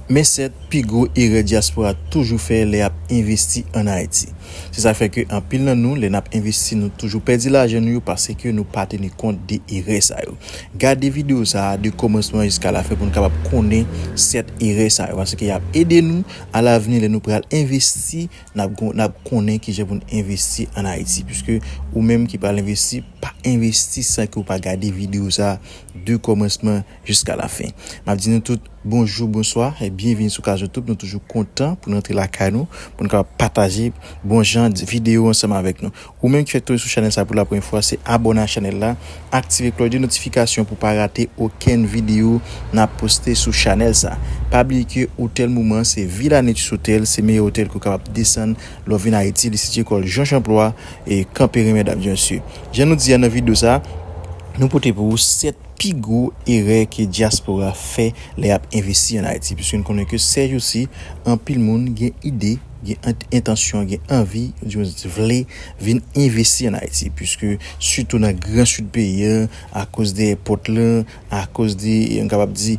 Men 7 pi gwo erè dyaspora toujou fè lè yap envesti an Ayiti. Se sa k fè ke anpil nan nou lè nap envesti nou toujou pèdi lajan nou yo paske nou pa teni kont de erè sa yo. Gade video sa a de kòmansman jiska lafen pou nou kapab konnen 7 erè sa yo paske yap ede nou a lavni lè nou pral envesti nap gon nap konnen kijan pou nou envesti an Ayiti puiske ou menm ki pral envesti pa envesti san ke ou pa gade video sa a de kòmansman jiska la fin map di nou tout bonjou bonswa e byenvini sou kazotoub nou toujou kontan pou nou antre lakay nou pou nou kapab pataje bon jan video ansanm avèk nou ou menm ki fèk tonbe sou chanèl sa pou la premye fwa se abòne ak chanèl la aktive klòch de notifikasyon pou pa rate okenn video nap poste sou chanèl sa pa bliye ke otèl moman an se Villa Nature Hotel se meyè otèl ke ou kapab desann lè w vin Ayiti li sitye kòl Jean Champloi e kanperen mèdam e mesye jan nou di a nan video sa nou pote pou ou 7 pi gwo erè ke dyaspora fè lè y ap envesti an Ayiti, piske n konnen ke sèjousi anpil moun gen ide, gen entansyon, gen anvi, oudimwens vle vin envesti an Ayiti, piske sitou nan gran sid peyi an, akoz de èpòt lan, akoz de, m kapab di,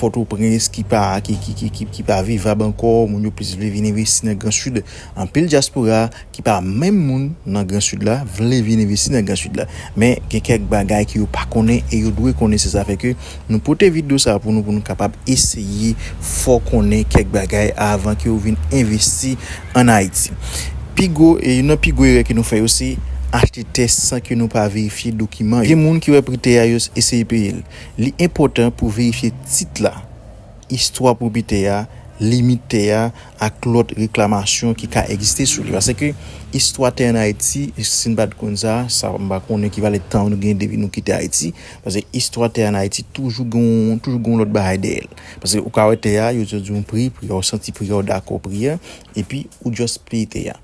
Pòtoprens ki pa, ki pa vivab ankò, moun yo plis vle vin envesti nan gran sid, anpil dyaspora. ki pa menm moun nan gran sid la vle vin envesti nan gran sid la men gen kèk bagay ke yo pa konnen e yo dwe konnen se sa fè ke nou pote video sa pou nou pou nou kapab eseye fè w konnen kèk bagay avan ke w vin envesti an Ayiti pi gwo e youn nan pi gwo erè ke nou fè yo se achte tè san ke nou pa verifye dokiman yo gen moun ki wè pri tè a yo eseye peye l li enpòtan pou verifye tit la istwa pwopyetè a limit tè a. ak lòt reklamasyon ki ka egziste sou li. Paske istwa tè an Ayiti, si n pa t konn sa, sa m pa konnen ki valè tan nou gen depi nou kite Ayiti. Paske istwa tè an Ayiti toujou gen yon, toujou gen yon lòt bagay dèyè l. Paske ou ka wè tè a, yo di w di w yon pri, pri a ou santi pri a, ou dakò pri a, epi ou just peye tè a.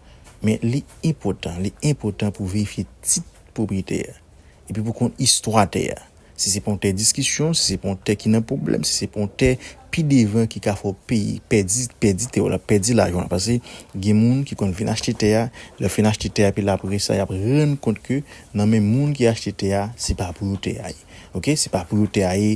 Men li enpòtan, li enpòtan pou verifye tit pwopriyetè a. Epi pou konn istwa tè a. Si se pa yon tè diskisyon, si se pa yon tè ki nan pwoblèm, si se pa yon tè pi devan ki ka fè yon peyi pèdi, pèdi tè w la, pèdi lajan w la. Pase gen moun ki konn vin achte tè a, lè yo fin achte tè a epi apre sa y ap rann kont ke nan men moun ki achte tè a, se pa pou yo tè a ye. Ok, se pa pou yo tè a ye.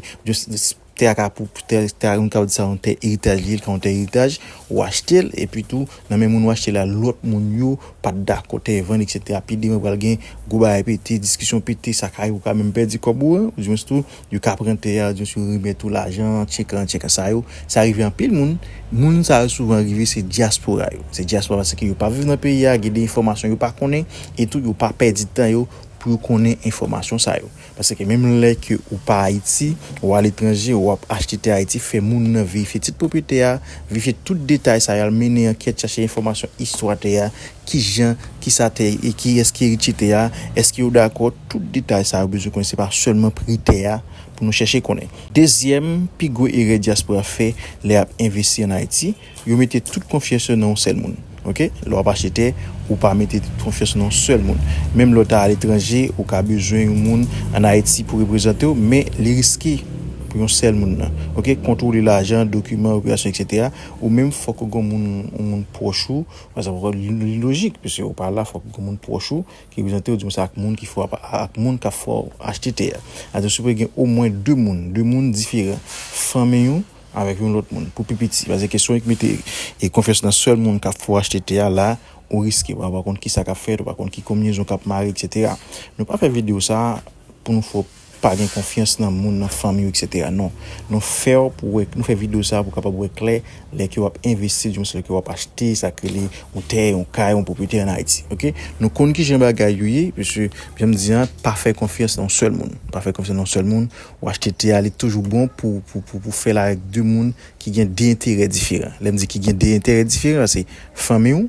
Tè a ka pou tè tè a moun ka di sa yon tè eritaj li ye li ka yon tè eritaj ou achte l epi tou nan men moun ou achte l la lòt moun yo pa t dakò tè vann eksetera pi devan pral gen gwo bagay pete diskisyon pete sa ka rive ou ka menm pèdi kòb ou an oudimwens tou yo ka pran tè a oudimwens yo remèt ou lajan an tchek lan tchek la sa yo sa rive anpil moun moun sa yo souvan rive se dyaspora yo se dyaspora paske yo pa viv nan peyi a gen de enfòmasyon yo pa konnen etou yo pa pèdi tan yo pou yo konnen enfòmasyon sa yo. Paske menm lè ke ou pa Ayiti, ou aletranje, ou ap achte tè Ayiti, fè moun nan verifye tit pwopwetè a, verifye tout detay sa yo, al mennen ankèt, chache enfòmasyon istwa tè a, kijan, kisa tè, e kiyès ki eritye tè a, èske yo dakò, tout detay sa yo bezwen konnen, se pa sèlman pri tè a pou nou chèche konnen. Dezyèm pi gwo erè dyaspora fè lè y ap envesti an Ayiti, Yo mete tout konfyans yo nan yon sèl moun ok lè wap achte tè ou pa mete tout konfyans ou nan yon sèl moun menm lè w ta aletranje ou ka bezwen yon moun an ayiti pou reprezante w men li riske pou yon sèl moun nan ok kontwole lajan dokiman operasyon etc ou menm fòk ou gen yon moun yon moun pwòch ou pa egzanp ok li lojik pise ou pa la fòk ou gen yon moun pwòch ou ki reprezante w di m se ak moun ki fè wap ak moun kap fè w achte tè a atò sipoze gen omwen 2 moun 2 moun diferan fanmiy ou avèk yon lòt moun pou pi piti paske kesyon ek mete e konfyans nan sèl moun kap fè w achte tè a la ou riske paske ou pa konn kisa kap fèt ou pa konn ki konbinezon kap mare etc nou pa fè video sa pou nou fè w pa gen konfyans nan moun nan fanmi w etc non nou fè w pou wè nou fè video sa pou w kapab wè klè lè ke wap envesti di mwens lè ke wap achte sak rele yon tè yon kay yon pwopriyete an ayiti ok nou konn kijan bagay yo ye paske janm di an pa fè konfyans nan yon sèl moun pa fè konfyans nan yon sèl moun Ou achte te a li toujou bon pou pou fèl avèk 2 moun ki gen 2 enterè diferan lèm di ki gen 2 enterè diferan se fanmiw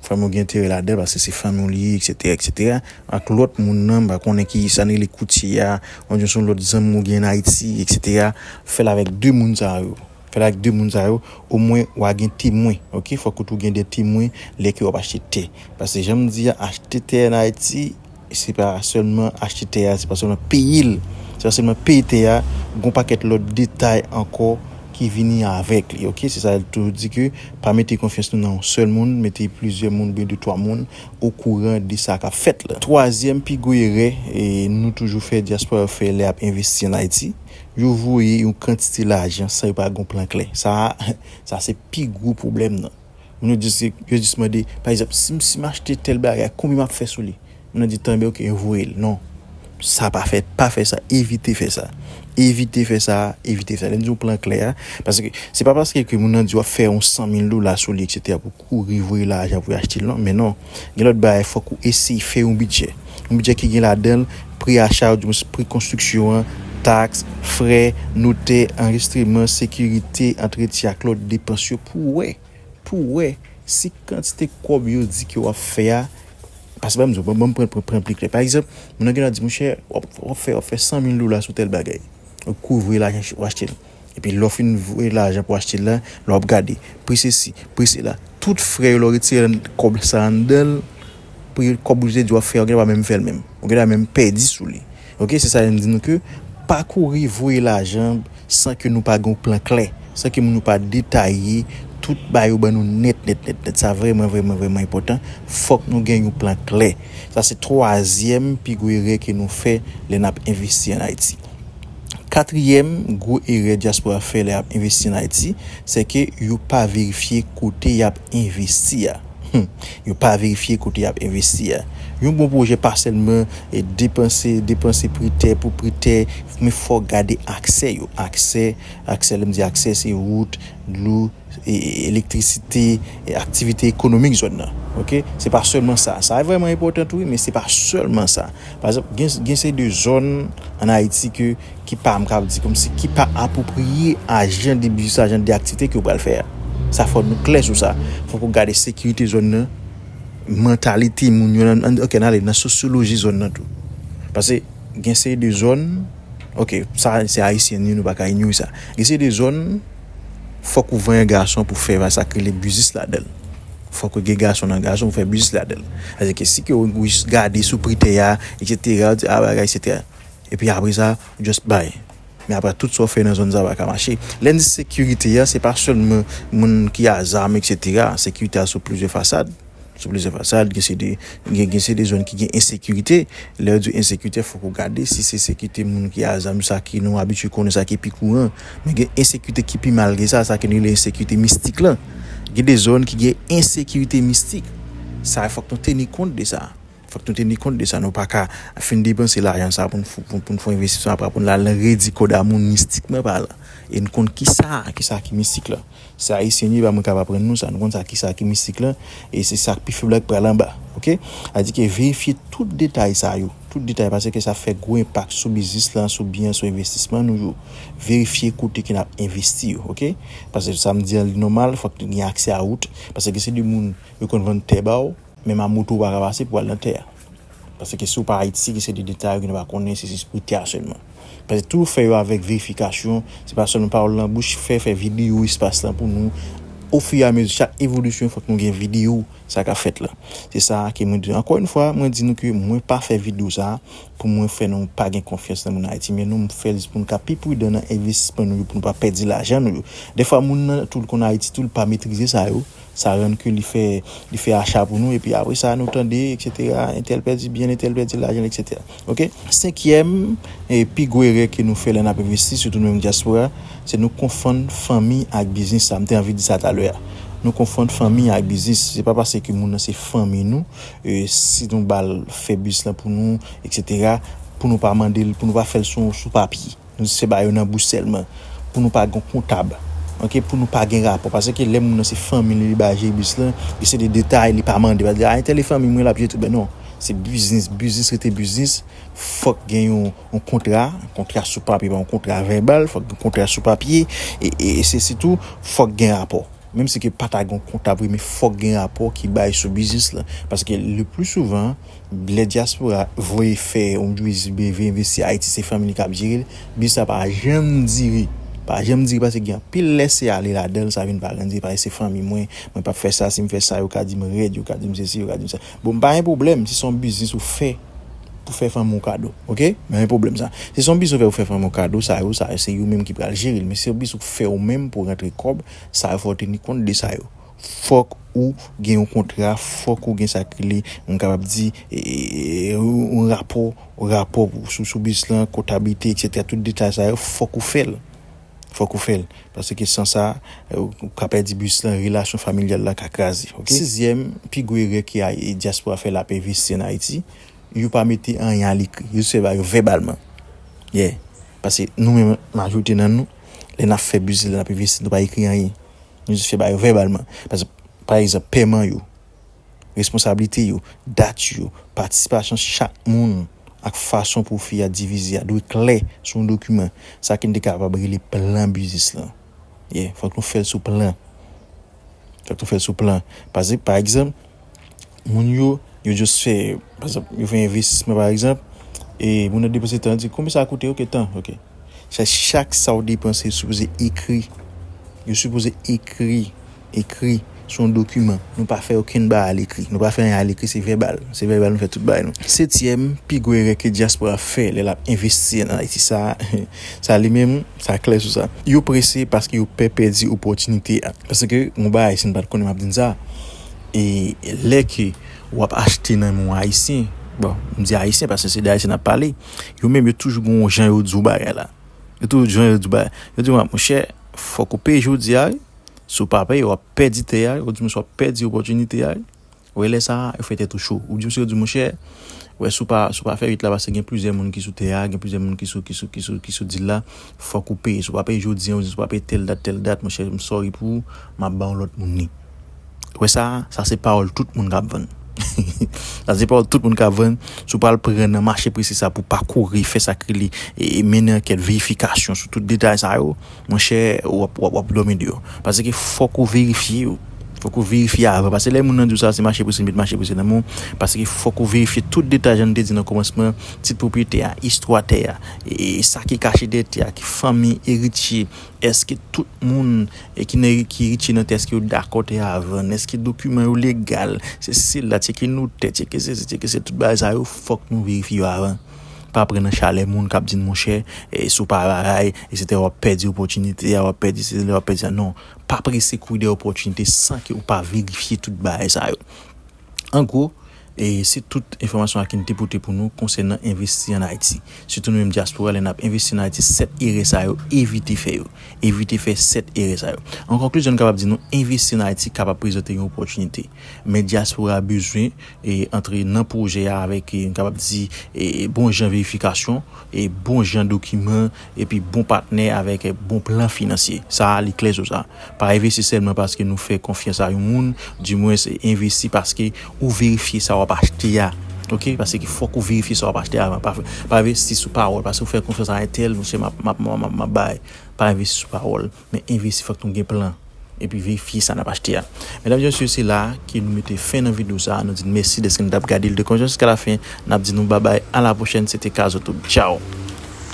fanmiw gen enterè ladanl paske se fanmiw li ye eksetera eksetera ak lòt moun nan mpa konnen ki sa nou rele koutye a oubyen son lòt zanmi ou gen an ayiti eksetera fèl avèk 2 moun sa yo fèl avèk 2 moun sa yo omwen wa gen temwen ok fòk ou tou gen 2 temwen lè ke wap achte te paske janm di a achte te an ayiti Se pa sèlman achte tè a, se pa sèlman peye l, se pa sèlman peye tè a, gon pakèt lòt detay ankò ki vini avèk li ok, se sa l toujou di ke pa mete konfyans nou nan yon sèl moun, mete plizyè moun oubyen 2 3 moun okouran de sa kap fèt la. Twazyèm pi gwo erè nou toujou fè, dyaspora yo fè lè yap envesti an Ayiti, yo voye yon kantite lajan san yo pa gen yon plan klè, sa a sa se pi gwo pwoblèm nan. Moun yo jis yo jis mande pa egzanp si m si m achte tèl bagay konbyen map fè sou li moun nan di tan byen ok yo voye l non sa pa fèt pa fè sa evite fè sa evite fè sa evite fè sa lè m di w plan klè a paske se pa paske ke moun nan di w ap fè yon 100 mil dola sou li eksetera pou w kouri voye lajan pou yo achte l non men non. Gen lòt bagay fòk ou eseye fè yon bidjè. Yon bidjè ki gen ladan l pri acha oudimwens pri konstriksyon an, taks, frè, notè, anrejistreman, sekirite, antretyen ak lòt depans yo pou wè pou w wè si kantite kòb yo di ke w ap fè a pase ban m di w, ban m pran pran pli klè. Pa egzanp, moun nan gen dwa di monchè w ap fè w ap fè 100 mil dola sou tèl bagay. Ou kouvri lajan w achte l. Epi lè w fin voye lajan pou achte l la, lè w ap gade pri sesi, pri sela, tout frè yo lè w retire kòb sa anndan l, pri kòb ou te di w ap fè a ou gen dwa pa menm fè l menm. Ou gen dwa menm pèdi sou li. Ok, se sa yo m di nou ke pa kouri voye lajan san ke nou pa gen yon plan klè, san ke moun yo pa detaye tout ba yo ban nou nèt nèt nèt nèt. Sa vrèman vrèman vrèman enpòtan. Fòk nou gen yon plan klè. Sa se twazyèm pi gwo erè ke nou fè lè n ap envesti an Ayiti. Katriyèm gwo erè dyaspora fè lè y ap envesti ann Ayiti, sè ke yo pa verifye kote y ap envesti a. Hum! Yo pa verifye kote y ap envesti a. Yon bon pwojè pa sèlman depanse, depanse pri tè pou pri tè, men fò w gade aksè yo. Aksè, aksè lè m di aksè se wout, dlo. elektrisite, aktivite ekonomik zòn nan. Ok, se pa sèlman sa. Sa vrèman enpòtan tou wi, men se pa sèlman sa. Pa egzanp, gen, gen seri de zòn an Ayiti ke, ki pa, m kab di kòm si, ki pa apwopriye a jan de biznis la, jan de aktivite ke yo pral fè a. Sa fò nou klè sou sa. Fòk ou gade sekirite zòn nan, mantalite moun yo nan, ok nan ale nan sosyoloji zòn nan tou. Pase gen seri de zòn, ok, sa se Ayisyen nou ye, nou pa ka inyore sa. Gen seri de zòn. fòk ou vanyan gason pou fè sa k rele biznis ladan l. Fòk ou gen gason nan gason pou fè biznis ladan l. Sa di ke si ke ou jis gade sou pri tè a, eksetera, ou di a bagay se tè. E pi apre sa, ou just bay. Men apre tout sa ou fè nan zòn sa pa ka mache. Lè n di sekirite a, se pa sèlman moun ki a zam eksetera. Sekirite a sou plizyè fasad. Sou plizyè fasad, gen se de, gen se de zòn ki gen ensekirite. Lè yo di ensekirite, fòk ou gade si se sekirite moun ki a zam sa ki nou abitye konnen sa ki pi kouran. Men gen ensekirite ki pi mal ke sa, sa ke nou rele ensekirite mistik lan. Gen de zòn ki gen ensekirite mistik. Sa fòk nou teni kont de sa. Fòk nou teni kont de sa. Nou pa ka fin depanse lajan sa pou n fon envestisman apre pou n al nan redi kòd a moun mistikman palan. E n konn ki sa ki sa ki mistik lan. Se Ayisyen nou ye pa moun k ap aprann nou sa. Nou konn sa ki sa ki mistik lan e se sa k pi fèb la ki pral anba. Ok. Sa di ke verifye tout detay sa yo. Tout detay pase ke sa fè gwo enpak sou biznis lan, sou byen an, sou envestisman nou yo. Verifye kote ke n ap envesti yo. Ok. Pase sa m di an li nòmal fòk gen aksè a wout. Pase ke se de moun yo konn vann tè ba w. Menm a moto ou pa ka pase pou al nan tè a. Paske si ou pa Ayiti gen seri de detay ou gen dwa pa konnen se jis pou tè a sèlman. Paske toujou fè yo avèk verifikasyon, se pa sèlman pawòl nan bouch, fè fè videyo espas lan pou nou, ofiramezi chak evolisyon fòk nou gen videyo sa kap fèt la. Se sa a ke mwen di nou. Ankò yon fwa mwen di nou ke mwen pa fè videyo sa a pou mwen fè nou pa gen konfyans nan moun Ayiti men nou, m fè l jis pou nou ka pi pridan nan envestisman nou yo pou nou pa pèdi lajan nou yo. Dèfwa moun nan tou l konn Ayiti tou l pa metrize sa yo. Sa rann ke li fè, li fè acha pou nou epi apre sa nou tande etc. Entèl pèdi byen l, entèl pèdi lajan l etc. Ok. Senkyèm e pi gwo erè ke nou fè lè n ap envesti, sitou nou menm dyaspora, se nou konfonn fanmi ak biznis. Sa m te anvi di sa talè a. Nou konfonn fanmi ak biznis. Se pa pase ke moun nan se fanmi nou, si nou ba l fè biznis lan pou nou etc. Pou nou pa mande l, pou nou pa fè l sou papye. Nou se ba yo nan bouch selman pou nou pa gon kontab ok pou nou pa gen rapò pase ke lè moun nan se fanmi li li ba je bis lan li se de detay li pa mande a entèl e fanmi mwen lap je tou ben non se biznis biznis rete biznis fòk gen yon yon kontra kontra sou papye pa yon kontra vèbal fòk gen kontra sou papye e se sitou fòk gen rapò. Menm si ke pa ta gen yon kontab vre men fòk gen rapò ki bay sou biznis la. Paske le pli souvan lè dyaspora voye fè yon biznis oubyen vle envesti Ayiti se fanmi li kap jere l, biznis la pa janm dire. Pa janm dire paske gen anpil lèse ale ladan l sa vin pa janm dire paske se fanmi mwen, mwen pap fè sa, si m fè sa yo ka di m rèd, yo ka di m sesi, yo ka di m sa. Bon pa gen pwoblèm si son biznis ou fè pou fè fanmi w kado ok pa gen pwoblèm sa si son biznis ou fè pou fè fanmi w kado sa yo sa yo se yo menm ki pral jere l men si son biznis ou fè ou menm pou rantre kòb sa yo fòw teni kont de sa yo fòk ou gen yon kontra fòk ou gen sa ki rele m kapab di yon rapò rapò sou biznis lan kontablite etc tout detay sa yo fòk ou fè l. Fòk ou fèl paske san sa ou ka pèdi bus lan relasyon familyal la ka kraze ok. Sizyèm pi gwo erè ke dyaspora fè lap envesti an Ayiti yo pa mete anyen a lekri yo jis fè bagay yo vèbalman yeah pase nou menm majorite nan nou lè nap fè biznis lè nap envesti nou pa ekri anyen nou jis fè bagay yo vèbalman pa egzanp pèman yo Responsablite yo, dat yo, patisipasyon chak moun ak fason pwofi a divize a dwe klè sou yon dokiman, sa ke n te kapab rele plan biznis lan. Yeah, fòk nou fè l sou plan. Fòk nou fè l sou plan. Pase, pa egzanp, moun yo, yo just fè, pa egzanp, yo fè envestisman pa egzanp, e moun nan depanse tan, di, konbe sa koute? Ok, tan, ok. Sa, chak sa ou depanse, yo sipoze ekri. Yo sipoze ekri Ekri se yon dokiman. Nou pa fè okenn ba alekri. Nou pa fè anyen alekri, se vèbal. Se vèbal nou fè tout bagay nou. Setyèm pi gwo erè ke dyaspora ap fè lè l ap envesti ann Ayiti sa a, sa li menm, sa klè sou sa. Yo prese paske yo pè pèdi opòtinite a. Paske yon bagay si n pa t konnen m ap di n sa, e lè ke w ap achte nan men yon Ayisyen, bon, m di Ayisyen paske se de Ayisyen n ap pale, yo menm yo toujou gen yon jan yo di w bagay la. Yo toujou gen yon jan yo di w bagay la. Yo di w, monchè, fòk ou peye jodi a wi. Si w pa peye, w ap pèdi tè a, yo di misye w ap pèdi opòtinite a, wè lè sa yo fè tèt ou cho, ou di misye yo di monchè, wè si w pa si w pa fè 8 la pase gen plizyè moun ki sou tè a, gen plizyè moun ki sou ki sou ki sou ki sou dil la, fòk ou peye, si w pa peye jodi an, yo di si w pa peye tèl dat tèl dat monchè m sòri pou ou, m ap ba yon lòt moun li. Ou wè sa, sa se pawòl tout moun ka ap vann. Sa se pawòl tout moun ka ap vann, si w pral pran nan mache prese sa pou w pa kouri fè sa k rele e mennen ankèt verifikasyon sou tout detay sa yo, Monchè wap wap dòmi de yo. Paske fòk ou verifye yo. Fòk ou verifye avan. Paske lè moun nan di w sa se mache pou se met mache pou se nan men w. Paske fòk ou verifye tout detay jan nou te di nan kòmansman, tit pwopriyetè a, istwa tè a, e sa ki kache dèyè tè a, ki fanmi, eritye, èske tout moun ki nan ki eritye nan tè a èske yo dakò tè a vann, èske dokiman yo legal, sesi sela, tcheke notè, tcheke sesi, tcheke sela, tout bagay sa yo fòk nou verifye yo avan. Pa pran nan chalè moun kap di n monchè si w pa raray etc wap pèdi opòtinite a wap pèdi sezi la wap pèdi sa non pa prese kouri dèyè opòtinite san ke ou pa verifye tout bagay sa yo an gwo se tout enfòmasyon sa ki m te pote pou nou konsènan envesti an Ayiti sitou nou menm dyaspora lè nap envesti an Ayiti 7 erè sa yo evite fè yo evite fè 7 erè sa yo an konklizyon m kapab di nou envesti an Ayiti kapab prezante yon opòtinite men dyaspora bezwen antre nan pwojè a avèk m kapab di bon jan verifikasyon, bon jan dokiman epi bon patnè avèk bon plan finansye. Sa a li klè sou sa. Pa envesti sèlman paske nou fè konfyans a yon moun, di mwens envesti paske ou verifye sa w ap achte a ok paske fòk ou verifye sa w ap achte a avan. Pa envesti sou pawòl paske ou fè konfyans a entèl monchè m ap bay. Pa envesti sou pawòl. Men envesti fòk nou gen plan epi verifye sa nap achte a. Medam e mesye se la ke nou mete fen nan video sa nou di n mèsi deske nou tap gade l de konjon jiska la fen nap di nou babay a la pwochèn se te Kazotube tchaw.